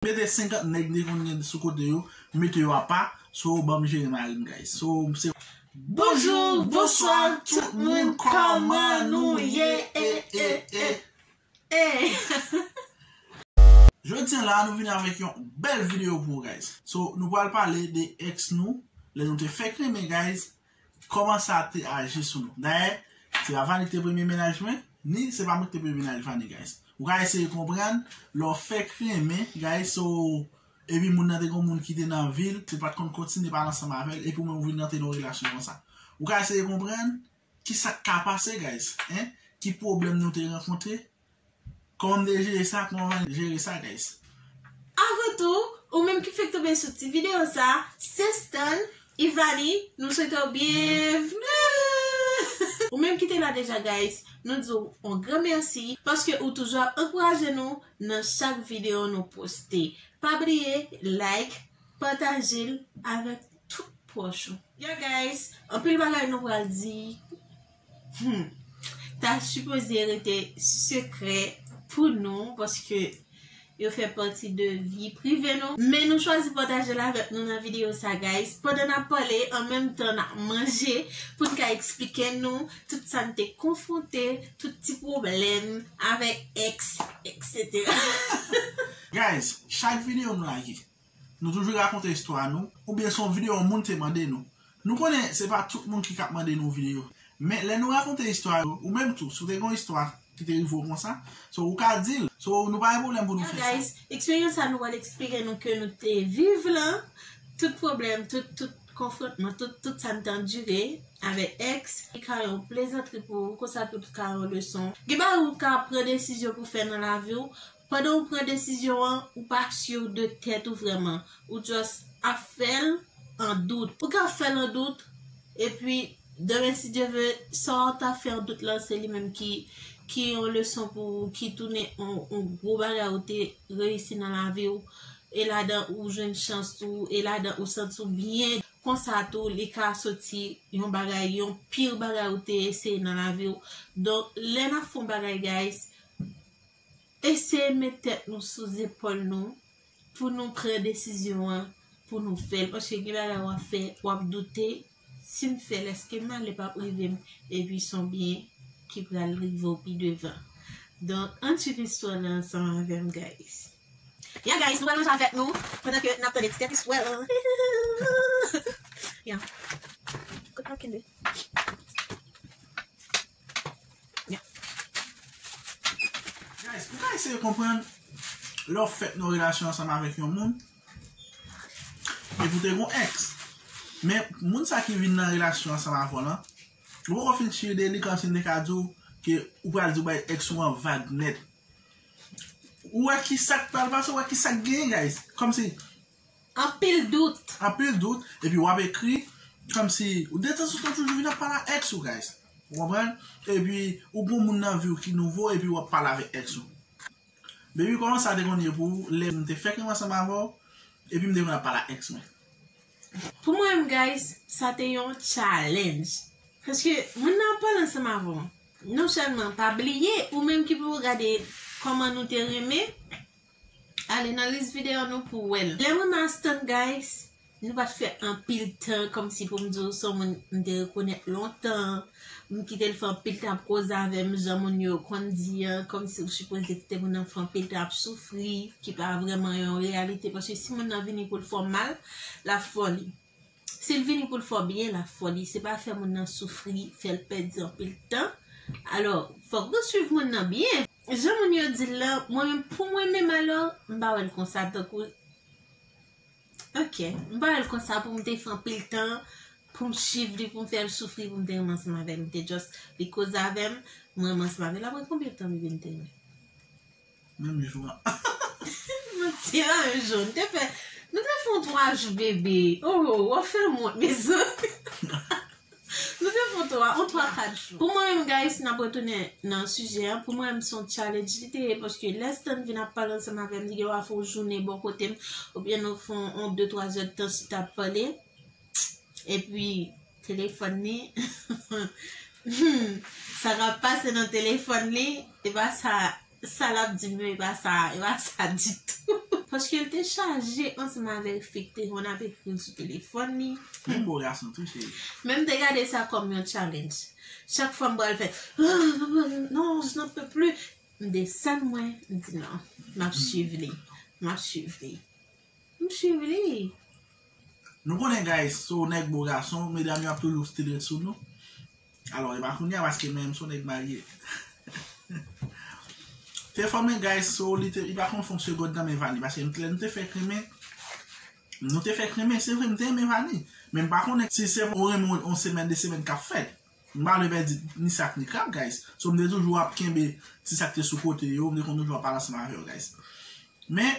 Mete 50 nèg li konn gen sou kote yo mete yo apa so banm jere marim guys so se. Bonjour bonswa tout moun kòman nou ye eh eh eh eh. Jodi an la nou vini avèk yon bèl video pou ou guys so nou pral pale de ex nou lè nou te fèk renmen guys Kòman sa te aji sou nou? Dayè, se pa Vani ki te premye mennaj mwen, ni se pa mwen ki te premye mennaj Vani, guys. Ou ka eseye konprann, lè w fèk renmen, guys, so, epi moun nan te gen yon moun ki te nan vi l, ou pa t konn kontinye pale ansanm avè l, epi ou menm ou vin rantre nan yon relasyon konsa. Ou ka eseye konprann, ki sa k ka pase, guys, hein? Ki pwoblèm nou te rankontre? Kòman m te jere sa, kòman m pral jere sa guys. Avan tou, ou menm ki fèk tonbe sou ti video sa, Sestan, Ivani, nou swete w byenvni! Ou menm ki te la deja guys, nou di w on gran mèsi paske ou toujou ap ankouraje nou nan chak video nou poste. Pa bliye like, pataje l avèk tout pwòch ou. Ya guys, anpil bagay nou pral di Humm ta sipoze rete sekrè pou nou paske yo fè pati de vi prive nou. Men nou chwazi pataje l avèk nou nan videyo sa guys pandan nap pale an menm tan nap manje poun ka eksplike nou tout sa n te konfwonte tout ti pwoblèm avèk ex etc. Guys chak videyo m lage. Nou toujou rakonte istwa nou, oubyen se yon videyo yon moun te mande nou. Nou konnen se pa tout moun ki ka ap mande nou videyo. Men lè nou rakonte istwa yo, ou menm tou, si w te gen yon istwa ki te rive w konsa, so ou ka di l. So nou pa gen pwoblèm pou nou fè sa. Now guys, eksperyans sa nou pral eksplike nou ke nou te viv lan, tout pwoblèm, tout, tout konfwontman, tout, tout sa nou te andire avèk ex, li ka yon plezantri pou ou, konsa tou li ka yon leson. Gen bagay ou ka pran desizyon pou fè nan lavi w, Pandan ou pran desizyon an, ou pa sur de tèt ou vrèman, ou just ap fèl an dout. Ou ka fèl an dout, epi demen si Dye ve, sa ou ta fè an dout lan se li menm ki ki yon leson pou ou, ki tounen yon gwo bagay ou te reyisi nan lavi ou, e ladan ou jwenn chans tou, e ladan ou santi ou byen, konsa tou li ka soti yon bagay, yon pire bagay ou te eseye nan lavi ou, donk lè nap fè yon bagay guys, Eseye met tèt nou sou zepòl nou pou nou pran desizyon an pou nou fèl paske gen bagay wap fè wap doute sim fèl eske mal li pap rivem epi son byen ki pral rivew pi devan donk ann swiv istwa lan ansanm avèm guys. Ya guys nou pral manje avèk nou pandan ke nap tande ti tèt istwa lan hihihihihihi ya kot map kenbe. Guys, nou ka eseye konprann lè w fèt nan relasyon ansanm avèk yon moun epi ou te gen yon ex men moun sa ki vin nan relasyon ansanm avè w lan ou poko fin chire de li kòmsi m te ka di w ke ou pral di w bay ex ou an vag nèt ou wè kisa k pral pase ou wè kisa k genyen guys kòmsi Anpil dout. Anpil dout epi wap ekri kòmsi ou detanzantan toujou vin ap pale ak ex ou guys ou konprann epi ou gen yon moun nan viw ki nouvo epi wap pale avèk ex ou baby kòman sa te konn ye pou ou lèm te fèk renmen ansanm avèw epi m te konn ap pale ak ex mwen. Pou mwen menm guys sa te yon challenge paske moun nan ap pale ansanm avèw non sèlman pa bliye ou menm ki pou gade kòman nou te renmen Ale nan lis video nou pou wèl. Lèm renmen Astan guys Nou pat fè anpil tan kòmsi poum diw son moun m te rekonèt lontan M kitel fè anpil tan ap koze avèm jan moun yo konn di an kòmsi ou sipoze kite moun nan fè anpil tan ap soufri ki pa vrèman yon reyalite paske si moun nan vini poul fè w mal lap fè w li Sil vini poul fè w byen lap fè w li se pa fè moun nan soufri fèl pèdi anpil tan alò fòk nou swiv moun nan byen jan moun yo dil la mwen menm pou mwen menm alò m pa wèl konsa tankou ok m pa wèl konsa poum te fè anpil tan poum swiv li poum fèl soufri poum te renmen ansanm avèl m te just li koze avèm m renmen ansanm avèl aprè konbyen tan m vin te renmen. Menm jou an. Nou te nan menm jou. Nou te fè nou te fè yon 3 jou bebe. Oh w ap fè m wont mezanmi. Nou te fè yon 3 yon 3 4 jou. Pou mwen menm guys n ap retounen nan sijè an pou mwen menm se yon challenge li te ye paske lè Stan vin ap pale ansanm avè m li gen dwa fè yon jounen bò kote m oubyen nou fè yon 2 3 zèdtan chita ap pale epi Telefòn li Humm sa kap pase nan telefòn li e pa sa sa lap dim yo e pa sa e pa sa ditou. Paske l te chaje ansanm avèk fi k te konn ap ekri l sou telefòn li. Menm bo gason tou cheri. Men m te gade sa kòm yon challenge. Chak fwa m pral fè Humm non je n'en peux plus m desann mwen m di non map swiv li map swiv li. M swiv li. Nou konnen guys si w nèg bon gason medam yo ap toujou still ret sou nou alò e pa kounya paske menm si w nèg marye te fòmen guys si w li te li pa konn fon segond nan men Vani paske lè nou te fèk renmen nou te fèk renmen se vre m te renmen Vani men m pa konnen si se yon renmen yon semèn de semèn k ap fèt m pa vle pèdi ni sa k ni krab guys so m te toujou ap kenbe ti sa k te sou kote yo m te konn toujou ap pale ansanm avè yo guys men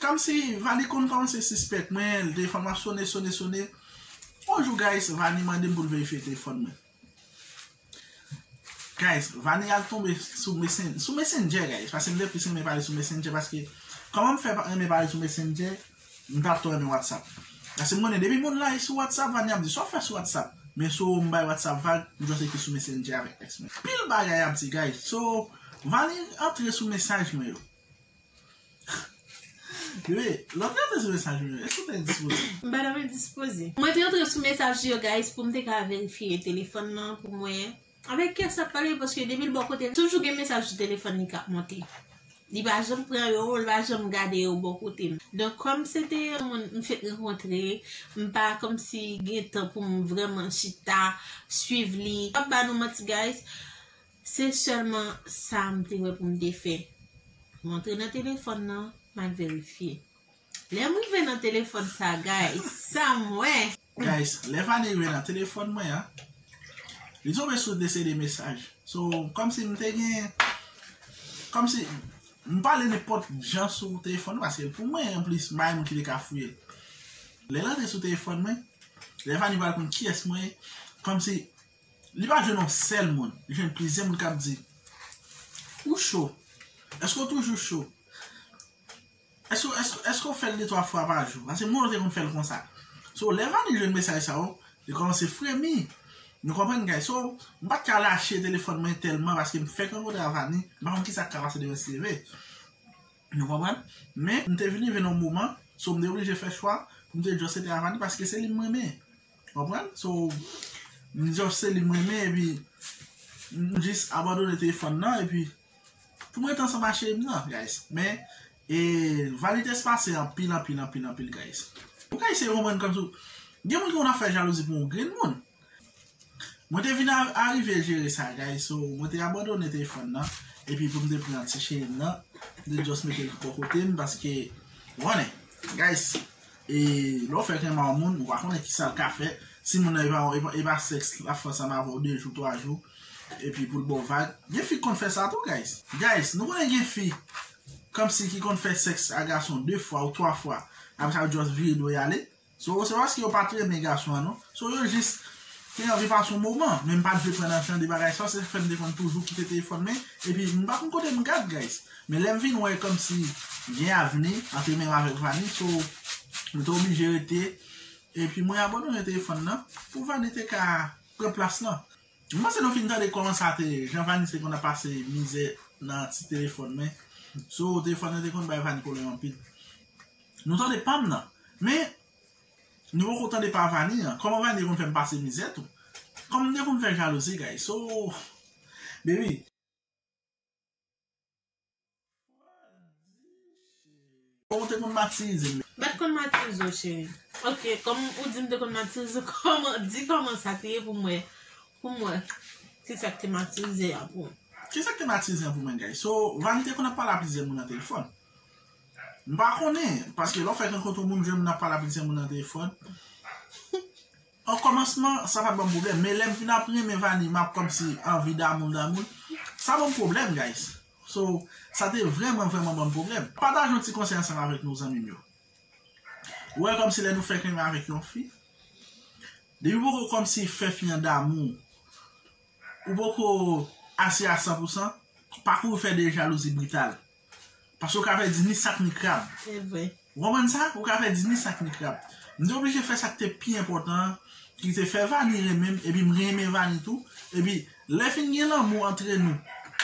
Kamsi Vani konn kòmanse sispèk mwen li te fè m ap sone sone sone on jou guys Vani mande m pou l verifye telefòn mwen guys Vani al tonbe sou mesen sou messenger guys paske m te plis renmen pale sou messenger paske kòman m fè renmen pale sou messenger m pa twò renmen whatsapp paske m konnen depi moun la e sou whatsapp Vani ap di sa w fè sou whatsapp men so m bay whatsapp vag m jwenn se ki sou messenger avèk ex mwen anpil bagay ap di guys so Vani antre sou mesaj mwen yo. Mwen te antre sou mesaj yo guys pou m te ka verifye telefon nan pou m wè avèk ki sa ap pale paske depi l bò kote l toujou gen mesaj sou telefon li k ap monte. Li pa janm pran yo, li pa janm gade yo bò kote m. Donk kòm se te yon moun m fèk rankontre, m pa kòmsi gen tan pou m vrèman chita swiv li. M pap ba nou manti guys, Se sèlman sa m te wè pou m te fè. M antre nan telefòn nan, m al verifye. Lè m rive nan telefòn sa guys, sa m wè! Guys, lè Fanny rive nan telefòn mwen an, li tonbe sou 2 CD mesaj. So, kòmsi m te gen, kòmsi, m pale nenpòt jan sou telefòn nan paske l pou mwen anplis, m pa gen moun ki te ka fouye l. Lè l antre sou telefòn mwen, lè Fanny pral konn kiyès mwen ye, kòmsi Li pa jwenn yon sèl moun, li jwenn plizyè moun k ap di, Ou cho? Èske w toujou cho? Èske w fè l detwa fwa pa jou? Paske moun yo te konn fè l konsa. So, lè Vanny jwenn mesaj sa yo, li kòmanse fremi. Nou konprann guys? So, m pa t ka lache telefòn mwen tèlman paske m fèk rankontre ak Vanny, m pa konn kisa k ka pase demen si l leve. Nou konprann? Men, m te vin rive nan yon moman, so m te oblije fè chwa pou m te just rete ak Vanny paske se li m renmen. Konprann? So, m just se li m renmen epi m jis abandone telefòn nan epi pou m rete ansanm ak cheri m nan guys. Men, e vanite se pase anpil anpil anpil anpil guys. Ou ka eseye konprann kòm si w gen moun ki konn ap fè jalouzi pou yon grenn moun. Mwen te vin arive jere sa guys so mwen te abandone telefòn nan epi pou m te pran ti cheri m nan m te just mete l bò kote m paske ou konnen guys. E lè w fèk renmen yon moun, ou pa konnen ki sa l ka fè. Si moun nan e pa sèks l ap fè ansanm avè w 2 jou 3 jou epi pou l ba w vag. Gen fi k konn fè sa tou guys. Guys, nou konnen gen fi kòmsi ki konn fè sèks ak gason 2 fwa ou 3 fwa apre sa yo just vire do y ale. So se pa paske yo pa t renmen gason an non. So yo jis te anvi pase yon moman. Men m pa t vle pran nan jan de bagay sa. Se sa k fè m te konn toujou kite telefòn m epi m pa konn kote m gad guys. Men lèm vin wè kòmsi gen avni antre menm avèk Vani so mwen te oblije rete epi mwen abandone telefòn nan pou Vani te ka pran plas lan. M panse nou fin tande kòman sa te ye, jan Vani te konn ap pase mizè nan ti telefòn men so telefòn nan te konn bay Vani pwoblèm anpil. Nou tande pam nan men nou poko tande pa Vani an, kòman Vani te konn fèm pase mizè tou, kòm m te konn fè jalouzi guys so baby. Mwen t konn matirize w cheri. Ok kom ou di m te konn matirize w koman di koman sa te ye pou m wè pou m wè ki sa k te matirize an pou ou. Ki sa k te matirize an pou mwen guys so Vani te konn ap pale a plizyè moun nan telefòn m pa konnen paske lè w fèk rankontre yon moun jwenn moun ap pale a plizyè moun nan telefòn. O kòmansman sa pat banm pwoblèm men lèm fin ap renmen Vanie map kòmsi anvi damoul damoul sa banm pwoblèm guys so sa te vrèman vrèman banm pwoblèm. Pataje yon ti konsèy ansanm avèk nou zanmim yo ou wè kòmsi lè nou fèk renmen avèk yon fi depiw poko kòmsi fè fi an damouw ou poko ase a san pou san pa kouri fè de jalouzi brital Paske ou ka fè di ni sak ni krab. Se vre. Ou konprann sa? Ou ka fè di ni sak ni krab. M te oblije fè sa k te pi enpòtan an, ki se fè Vani renmen m, epi m renmen Vani tou. Epi, lè fin gen lanmou antre nou,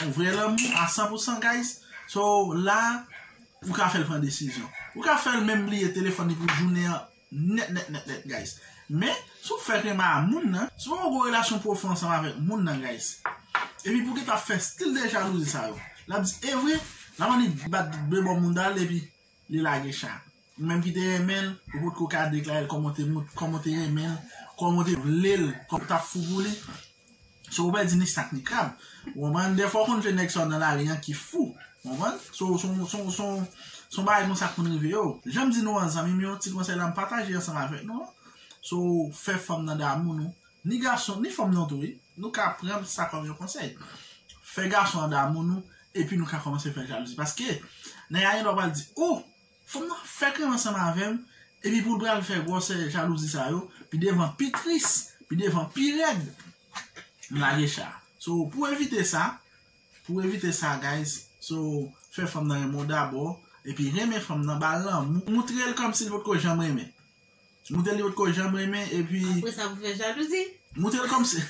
yon vrè lanmou a san pou san guys, so la, ou ka fè l pran desizyon. Ou ka fè l menm bliye telefòn li pou jounen an. Nèt nèt nèt nèt guys. Men, si w fèk renmen a moun nan, si w poko gen yon relasyon pwofon ansanm avèk moun nan guys, epi pou w gentan ap fè stil de jalouzi sa yo, l ap di e vre, l ap annik bat de bò mounda l epi li lage cha. Ou menm ki te renmen l, ou potko ka deklare l kòman w te renmen l, kòman w te vle l, kòman w t ap fou pou li, So ou pèdi ni sak ni krab. Ou konprann? Dè fwa ou konn fè nèg sa nan lari an ki fou. Ou konprann? So son bagay konsa k konn rive yo. Jan m di nou an zanmi m yo, ti konsèy la m pataje ansanm avèk nou an. So fè fanm nan damou nou. Ni gason, ni fanm nan tou wi. Nou ka pran sa kòm yon konsèy. Fè gason an damou nou epi nou ka kòmanse fè jalouzi. Paske nèg la gen dwa pral di ou. Fanm nan fèk renmen ansanm avèm epi poul pral fè gwòsè jalouzi sa yo pi devan pi tris pi devan pi rèd m lage cha so pou evite sa pou evite sa guys so fè fanm nan renmen w dabò epi renmen fanm nan bal lanmou moutrel kòmsi li potko janm renmen Moutrel yo potko janm renmen epi. Apre sa pou fè jalouzi. Moutrel kòmsi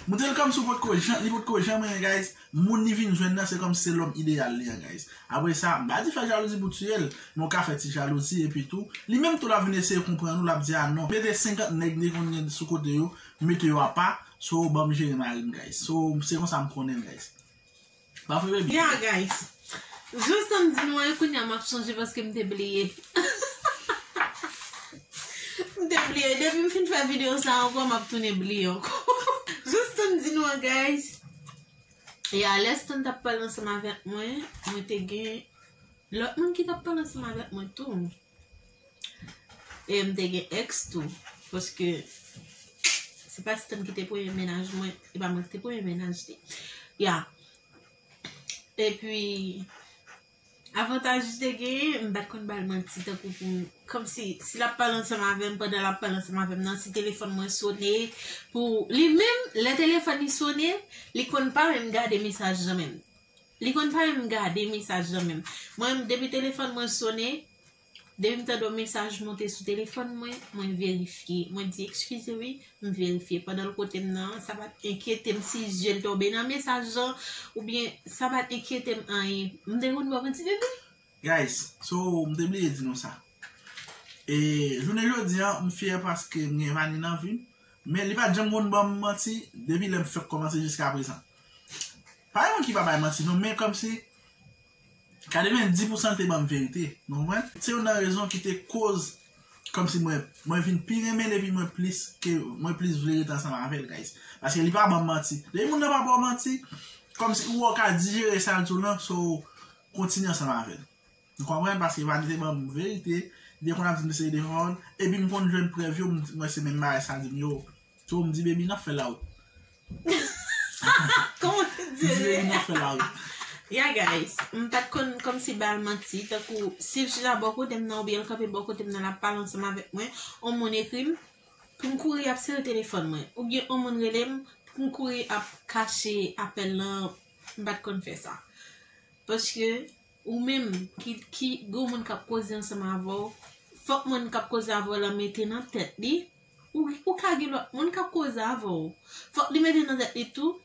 Moutrel kòmsi ou potko janm li potko janm renmen guys moun li vin jwenn nan se kòmsi se lòm ideyal li an guys apre sa m pa di fè jalouzi pou tiyel men ou ka fè ti jalouzi epi tou li menm tou lap vin eseye konprann ou lap di a non mete 50 nèg li konn gen sou kote yo mete yo apa so banm jere marim guys so se konsa m konnen guys. Ya guys Jan sam di nou an kounya map sonje paske mte bliye Mte bliye depim fin fè video sa ankò map tounen bliye ankò Jan sam di nou an guys Ya lè Stan tap pale ansanm avèk mwen mwen te gen lòt moun ki tap pale ansanm avèk mwen tou. E m te gen ex tou. Paske se pa Stan ki te premye menaj mwen. E pa mwen ki te premye menaj li. Ya. E pi. Avantaj li te gen. M pat konn ba l manti. Tankou pou. Kom si. Si l ap pale ansanm avè m. Pandan l ap pale ansanm avè m nan. Si telefon mwen sone. Pou. Li menm. Le telefon li sone. Li konn pa menm gade mesaj lan menm. Li konn pa menm gade mesaj lan menm. Mwen menm depi telefòn mwen sone, depi m tande yon mesaj monte sou telefòn mwen, mwen verifye. Mwen di ekskize wi, m verifye. Pandan l kote m nan, sa pa t enkyete m si zye l tonbe nan mesaj lan oubyen sa pa t enkyete m anyen. M te konn wè m an ti bebe. Guys so m te bliye di nou sa e jounen jodi an m fyè paske m gen Vanie nan vim men li pat janm konn banm manti depi lèm fèk kòmanse jiska prezan pa gen moun ki pa bay manti non men kòmsi 90 pousan l te banm verite nou konprann se youn nan rezon ki te koz kòmsi mwen mwen vin pi renmen l epi mwen plis ke mwen plis vle rete ansanm avèl guys paske li pa banm manti depi moun nan pa baw manti kòmsi ou wè ou ka dijere sa l di w lan so Kontinye ansanm avèl. Nou konprann paske vanite banm verite, li te konn ap dim se li te vann, epi m konn jwenn prèv yo m wè se menm bagay sa li dim yo. So m di baby nan fè lawout. Kòman w te di? M di baby nan fè lawout. Ya guys, m pat konn kòmsi bal manti, tankou si l chita bò kote m nan oubyen l kanpe bò kote m nan l ap pale ansanm avèk mwen, on moun ekri m pou m kouri ap sere telefòn mwen, oubyen on moun rele m pou m kouri ap kache apèl lan M pat konn fè sa. Paske ou menm ki gwo moun kap koze ansanm avè w, fòk moun kap koze avè w la mete nan tèt li, ou ka gen lòt moun kap koze avè w. Fòk li mete nan tèt li tou,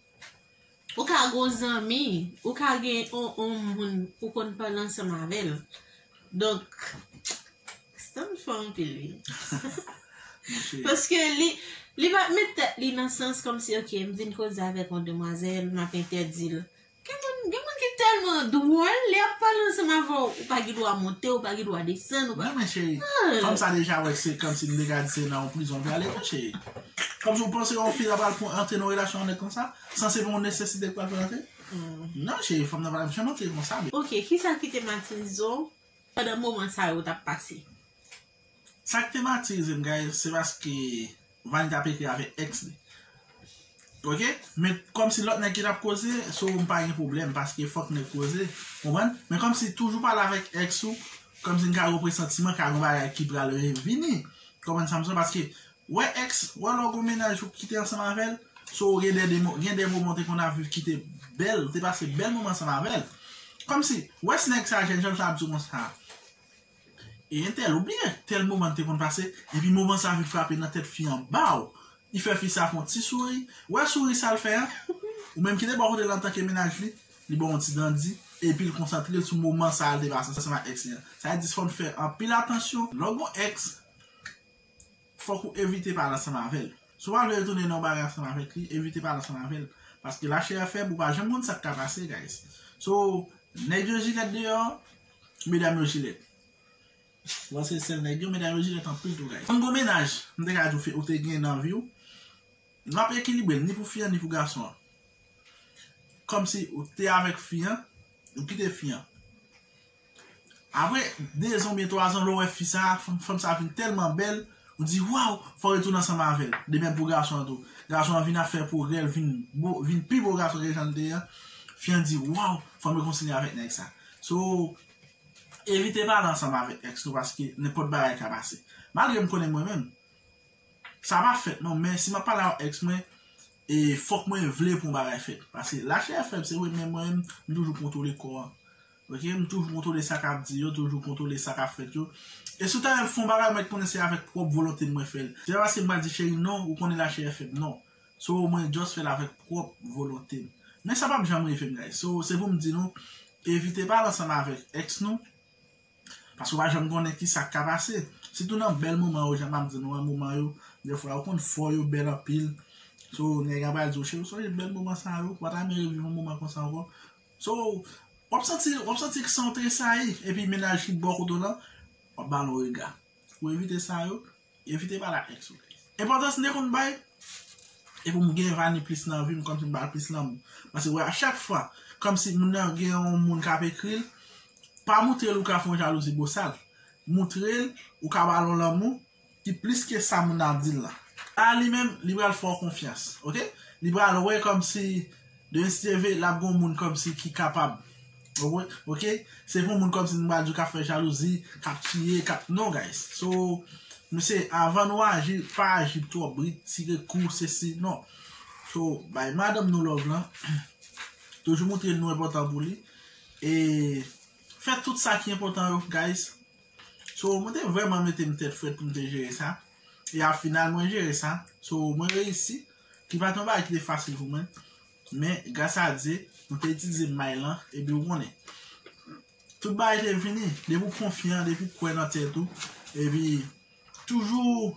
ou ka gen yon zanmi, ou ka gen yon moun ou konn pale ansanm avè l. Donk. Stan fò anpil wi. Paske li li pa met tèt li nan sans kòm si ok m vin koze avèk yon demwazèl m ap entèdi l. Gen moun gen moun ki tèlman dwòl lè y ap pale ansanm avè w ou pa gen dwa monte ou pa gen dwa desann ou pa. Men cheri, fanm sa deja wè se kòm si m deja di se nan yon prizon l prale vre cheri. Kòm si w panse yon fi la pral antre nan yon relasyon yon nèg konsa san se pa yon nesesite ki pral fè l antre? Non cheri fanm nan pa janm antre konsa. Ok kisa ki te matize w Pandan moman sa yo t ap pase. Sa k te matirize m guys se paske Vany t ap ekri avèk ex li ok men kòmsi lòt nèg ki t ap koze sou ou m pa gen pwoblèm paske fòk nèg koze ou konprann men kòmsi toujou pale avèk ex ou kòmsi n ka gen yon presantiman ka gen yon bagay ki pral revini konprann sa m di la paske Wè ex, wè lè w gon mennaj ou kite ansanm avè l, so gen dè demon, gen dè moman w te konn ap viv ki te bèl, ou te pase bèl moman ansanm avè l. Kòmsi, wè si nèg sa jèn jan l sa ap di w konsa, e entèl ou bliye tèl moman n te konn pase, epi moman sa vin frape nan tèt fi an baw, li fè fi sa fè yon ti souri, wè souri sa l fè an, ou menm ki te bò kote l antanke mennaj li, li ba w yon ti dan di, epi l konsantre l sou moman sa l te pase ansanm ak ex li an. Sa vle di fò n fè anpil atansyon lè w gon ex. fòk ou evite pale ansanm avè l. Si w pa vle retounen nan yon bagay ansanm avèk li, evite pale ansanm avè l. Paske lachè a fèb, ou pa janm konn sa k ka pase guys. So, nèg yo jilèt deyò, medam yo jilèt. Bon se sèl nèg yo, medam yo jilèt anpil tou guys. Yon gwo mennaj, m te ka di w ou te gen nan vi w, w ap ekilibre l ni pou fi an ni pou gason an. Kòmsi ou te avèk fi an, ou kite fi an. Apre 2 zan oubyen 3 zan lè w wè fi sa, fanm sa vin tèlman bèl, ou di waw fò w retounen ansanm avè l. Demèm pou gason an tou. Gason an vin ap fè pwogrè, l vin bo, vin pi bo gason ke jan l te ye an, fi an di waw fò mwen kontinye avèk nèg sa. So, evite pale ansanm avèk ex nou paske nenpòt bagay ka pase. Malgre m konnen mwen menm, sa pa fèt non men si m ap pale ak yon ex mwen, e fòk mwen vle pou yon bagay fèt. Paske lachè fèb se vre men mwen menm m toujou kontwole kò an. Ok m toujou kontwole sa kap di yo toujou kontwole sa kap fèt yo e si w ta wè m fè yon bagay mèt konnen se avèk pwòp volonte m mwen fè l se pa paske m pa di cheri non ou konnen lachè fèb non so mwen just fè l avèk pwòp volonte m men sa pap janm rive m guys so se pou m di nou evite pale ansanm avèk ex nou paske w pa janm konnen kisa k ka pase sitou nan bèl moman yo jan m ap di nou an moman yo dè fwa yo konn fò yo bèl anpil so nèg la pral di w cheri w sonje bèl moman sa yo ou pa ta renmen reviv yon moman konsa ankò. So, wap santi, wap santi ke san w tresayi, epi mennaj ki bò kote w lan, wap ba l yon rega. Pou evite sa yo, evite pale ak ex ou. Enpòtans m te konn bay, e pou m gen Vani plis nan vi m, kòmsi m ba l plis lanmou. Paske wè a chak fwa, kòmsi moun nan gen yon moun kap ekri l, pa moutre l ou ka fè yon jalouzi bosal. Moutre l, ou ka ba l yon lanmou. ki plis ke sa moun nan ap dil lan a li menm li pral fè w konfyans ok li pral wè kòmsi de stv lap gon moun kòmsi ki kapab ok se pou moun kòmsi nou pral di kap fè jalouzi kap tiye kap non guys so mesye avan nou aji pa aji twò brit tire kou se si non so bay madanm nou love lan toujou moutre nou enpòtan pou li e fè tout sa ki enpòtan yo guys. So, mwen te vreman mete m tèt frèt pou m te jere sa. E a final, mwen jere sa. So, mwen reyisi. Ki pa t yon bagay ki te fasil pou mwen. Men, gras a Dye, mwen te itilize may lan. E pi ou konnen. Tout bagay te vini. Depi ou konfyan, depi ou kwè nan tèt ou. E pi, toujou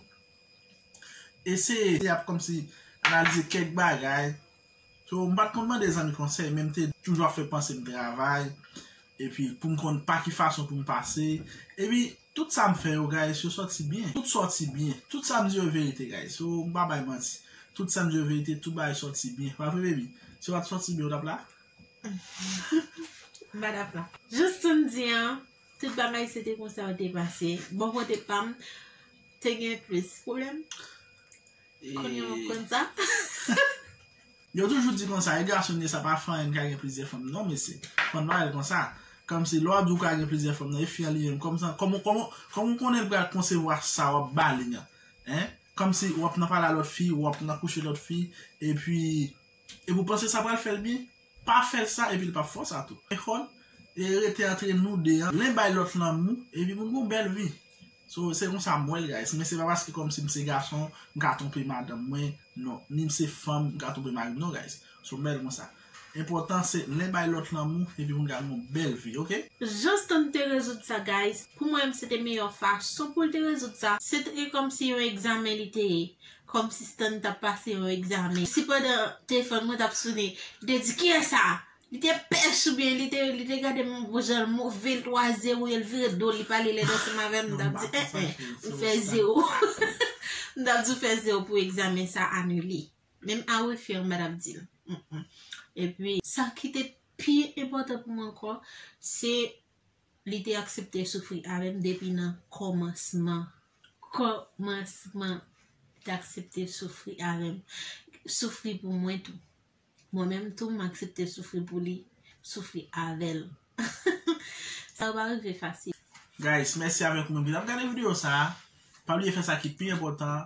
eseye ap kòmsi analize kèk bagay. So m pat konn mande zanmi konsèy men m te toujou ap fè panse m travay epi pou m konn pa ki fason pou m pase epi tout sa m fè yo guys yo sòti byen tout sòti byen tout sa m di yo verite guys so m pa bay manti tout sa m di yo verite tout bagay sòti byen pa vre baby si yo pat sòti byen ou tap la? m pa tap la jous sa m di an tout bagay se te konsa yo te pase bò kote pam te gen plis pwoblèm. Konnya wap konn sa. Yo toujou di konsa, e gason ye sa pa fanm an ka gen plizyè fanm non mesye. Fanm pa rèl konsa. Kòmsi lè wap di ou ka gen plizyè fanm nan e fi an li menm kòmsi kòman kòman ou konnen li pral konsevwa sa wap bali an. Hein? Kòmsi wap nan pale a lòt fi, wap nan kouche lòt fi epi Epi ou panse sa pral fèl byen? Pa fèl sa epi li pap fè w sa tou. Ecole e rete antre nou 2 an. Len bay lot lanmou epi moun gon bèl vi. So se konsa m wèl guys. Men se pa paske kòmsi m se gason m ka twonpe madanm mwen non. Ni m se fanm m ka twonpe mari m non guys. So m wèl konsa. Enpotan se len bay lot lanmou epi moun ka gon bèl vi ok. Juston te rezoud sa guys. Pou mwen m se te meyò fason poul te rezoud sa. Se te kòmsi yon egzamen li te ye. Kòm si Stan t ap pase yon egzamen. Si pandan telefòn mwen t ap sone, li te di, Kiyès sa a? Li te pès oubyen li te li te gade m yon gwo jan l move, l twaze ou yo, l vire do l, li pale lèd ansanm avè m, m t ap di, En en, ou fè zewo. M t ap di ou fè zewo pou egzamen sa a anile. Menm a refer m pa t ap di m. Epi, sa ki te pi enpòtan pou mwen ankò, se Li te aksepte soufri avè m depi nan kòmansman. Kòmansman. Li te aksepte soufri avè m. Soufri pou mwen tou. Mwen menm tou m aksepte soufri pou li. Soufri avè l. Sa pa rive fasil. Guys mèsi avèk moun ki tap gade video sa pa bliye fè sa ki pi enpòtan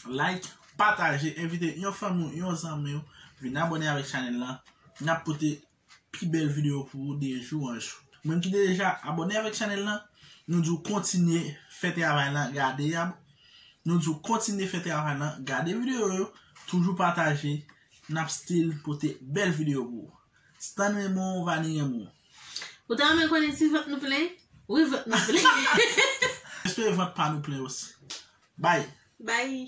like, pataje, envite yon fanmi ou, yon zanmi ou vin abone avèk chanèl lan, nap pote pi bèl video pou ou de jou an jou. Moun ki deja abone avèk chanèl lan, nou di ou kontinye fè travay lan, gade yab, nou di ou kontinye fè travay lan, gade video yo, toujou pataje, nap still pote bèl video pou ou. Stan renmen w, Vani renmen w. Ou ta renmen konnen si vant nou plen? Wi vant nou plen. Espere vant pa nou plen osi. Bye. Bye.